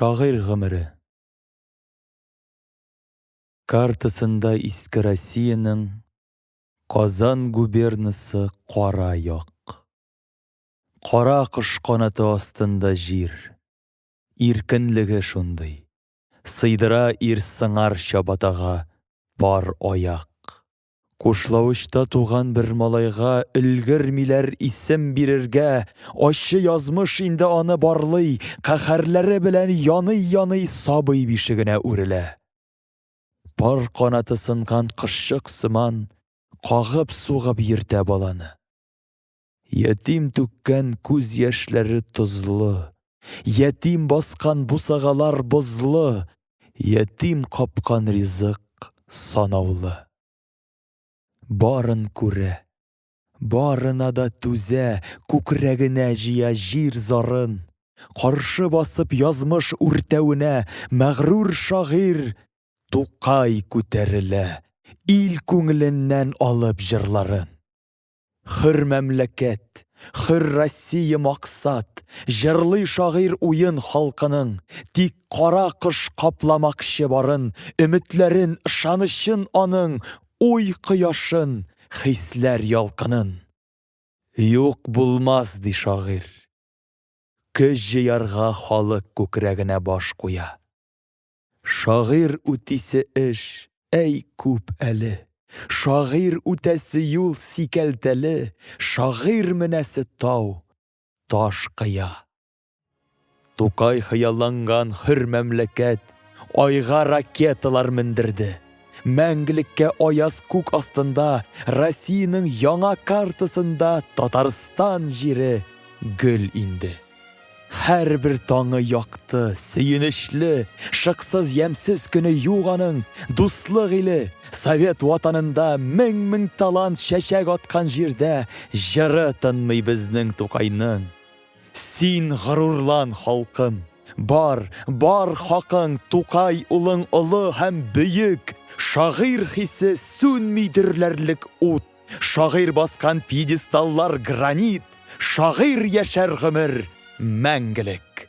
Шагыйрь гомере. Картасында Иске Россиянең Казан губернасы кара як. Кара кош канаты астында җир. Иркенлеге шундый. Сыйдыра ир сыңар чабатага пар аяк. Кушлавычта туган бер малайга өлгермиләр исем бирергә, ачы язмыш инде аны барлый, каһәрләре белән яный-яный сабый бишегенә үрелә. Пар канаты сынган кошчык сыман, кагып-сугып йөртә баланы. Ятим түккән күз яшьләре тозлы, Ятим баскан бусагалар бозлы, Ятим капкан ризык санаулы. Барын күрә, барына да түзә, Күкрәгенә җыя җир зарын. Каршы басып язмыш үртәвенә Мәгърур шагыйрь Тукай күтәрелә, Ил күңеленнән алып җырларын. Хөр мәмләкәт, хөр Россия максат, Җырлый шагыйрь уен халкының, Тик кара кыш капламакчы барын, Өметләрен, ышанычын аның, Уй кояшын, хисләр ялкынын. Юк булмас, ди шагыйрь. Көч җыярга халык күкрәгенә баш куя. Шагыйрь үтисе эш, әй, күп әле. Шагыйрь үтәсе юл сикәлтәле, Шагыйрь менәсе тау, таш кыя. Тукай хыялланган хөр мәмләкәт Айга ракеталар мендерде. Мәңгелеккә аяз күк астында Россиянең яңа картасында Татарстан җире гөл инде. Һәрбер таңы якты, сөенечле, шыксыз ямьсез көне юк аның, дуслык иле, Совет Ватанында мең-мең талант чәчәк аткан җирдә җыры тынмый безнең Тукайның. Син горурлан, халкым! Бар, бар хакың, Тукай улың олы һәм бөек, шагыйрь хисе сүнми дөрләрлек ут! Шагыйрь баскан пьедесталлар гранит, шагыйрь яшәр гомер мәңгелек.